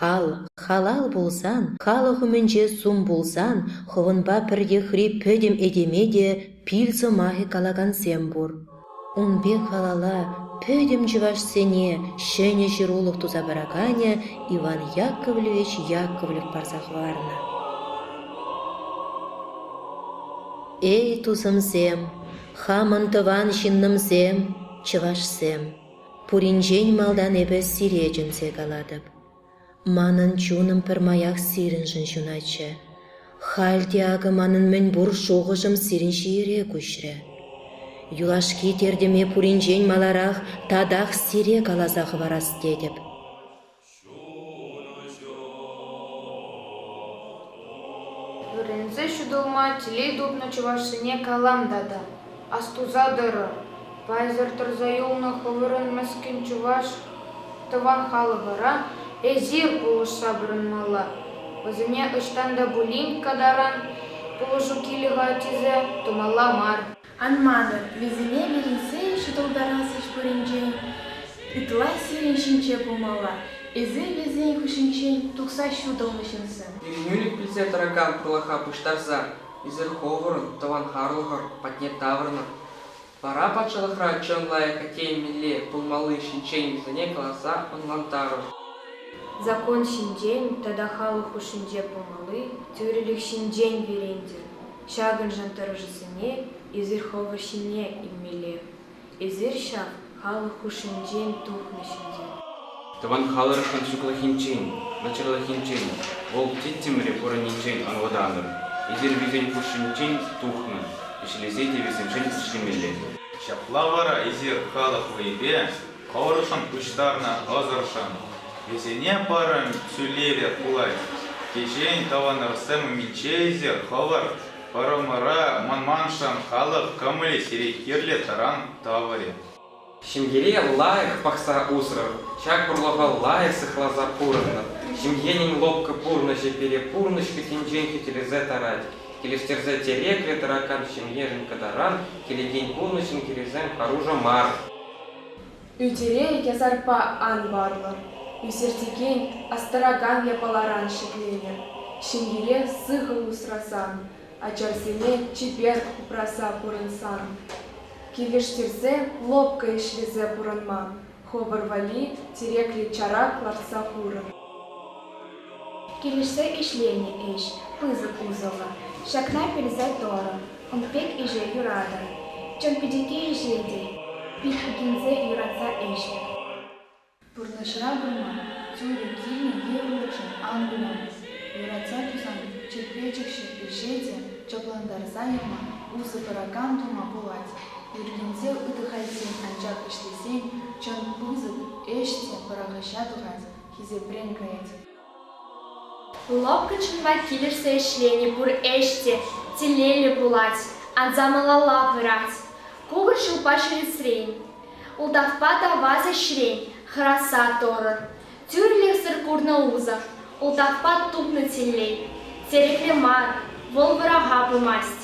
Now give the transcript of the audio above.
Хал, халал пулсан, халӑх умӗнче сум пулсан, хӑвӑнпа пӗртехри пӗтӗм этеме те пил сӑмахӗ калакансем пур. Ун пек халала пӗтӗм чӑвашсене ҫӗнӗ ҫырулӑх туса параканӗ Иван Яковлевич Яковлев парса хӑварнӑ. Эй, тусӑмсем, хамӑн тӑван ҫыннӑмсем, чӑвашсем! Пуринчен малтан эпӗ сире чӗнсе калатӑп. Манӑн чунӑм пӗрмаях сирӗншӗн ҫунатчӗ. Халь те акӑ манӑн мӗнпур шухӑшӑм сирӗн ҫиере куҫрӗ. Юлашки тертӗме пуринчен маларах татах сире каласа хӑварас тетӗп. Вӗренсе ҫутӑлма телей тупнӑ чӑвашсене калам тата. Астуса тӑрӑр, пайсӑр тӑрса юлнӑ хӑвӑрӑн мӗскӗн чӑваш тӑван халӑхӑра эсир пулӑшса пурӑнмалла. Вӗсене ӑҫтан та пулин катаран пулӑшу килӗ-ха тесе тумалла мар. Ан манӑр, вӗсене вӗренсе ҫутӑлтарас ӗҫ пуринчен ытла сирӗн ҫинче пулмалла, эсир вӗсен хыҫӗнчен тухса ҫутӑлнӑ ҫынсем. Ирӗнӳлӗх пӗлсе тӑракан тӑлӑха пуҫтарса эсир ховӑрӑн, тӑванхарлӑхӑр патне таврӑнӑр. Вара патшалӑхра чӑн лайӑх атте мӗнле пулмалли ҫинчен вӗсене каласа ӑнлантарӑр. Закон ҫинчен тата халӑх хушшинче пулмалли тӳрӗлӗх ҫинчен вӗрентӗр. Ҫакӑншӑн тӑрӑшусене эсир хӑвӑр ҫине илмелле. Эсир ҫав халӑх хушшинчен тухнӑҫ ӗнтӗ. Тӑван халӑхшӑн сыхлӑхӗнчен, начарлӑхӗнчен, вӑл тӗттӗмре пурӑннинчен ӑнлатанӑр. Эсир вӗсен хушшинчен тухнӑ ӗҫлесе те вӗсемшӗн ӗҫлемелле. Ҫапла вара эсир халӑх вӑйӗпе Хӑвӑршӑн пуҫтарнӑ ӑсӑршӑн вӗсене пӑрӑн ҫӳлелле пулать. Кичен тӑвӑнӑрсем умӗнче ӳсер хӑвӑр пӑрӑмӑра манманшӑн халӑх кӑмӑлӗ сире кирлӗ таран тӑврӗ. Ҫемьере лайӑх пӑхса усрӑр, ҫак вӑрлӑха лайӑх сыхласа пурӑннӑр. Ҫемьенӗн лӑпкӑ пурнӑҫӗ пире пурнӑҫ кӗтӗнчен хӳтӗлесе тарать. Килӗштерсе тӗреклӗ тӑракан ҫемьешӗн кӑтаран килекен пурнӑҫӑн хирӗсем хӑрушӑ мар. Ӳтере язарпа ан варлӑ, ӳсертекен астаракан япаларан ҫӗкленӗ. Ҫемьере сыхӑ усрасан, ачасене чипер упраса пурӑнсан, килӗштерсе лӑпкӑ ӗҫлесе пурӑнма хӑвӑр валли тӗреклӗ чарак лартса хурӑр. Килӗшсе ӗҫленӗ ӗҫ, пысӑк усӑллӑ. Ҫакна пӳлсе торӑм, ун пек ӗҫе юратӑм. Чӑн пӗчӗкки ӗҫе те Пихвикинсе юратса ӗҫлӗм. Пурнӑҫра курма тӳрӗ килнӗ йывӑрлӑхшӑн ан кулаймӑс. Юратса тусан чӗрпе-чӗкҫӗ ӗҫе те чаплантарса яма, усӑ куракан тума пулать. Ӳркенсе ыт-ха ӗсен анчах ӗҫлесен чӑн пысӑк ӗҫ те пӑрахӑҫа тухать, хисепрен каять. Лӑпкӑ чунпа килӗшсе ӗҫлени пур ӗҫ те телейлӗ пулать, анса малалла пырать. Кукӑр ҫулпа ҫӳресрен, ултавпа та ваз ӗҫрен хӑраса торӑн. Тӳрлӗхсӗр курнӑ усӑ, ултавпа тупнӑ телей, тӗреклӗ мар, вӑл вӑраха пымасть.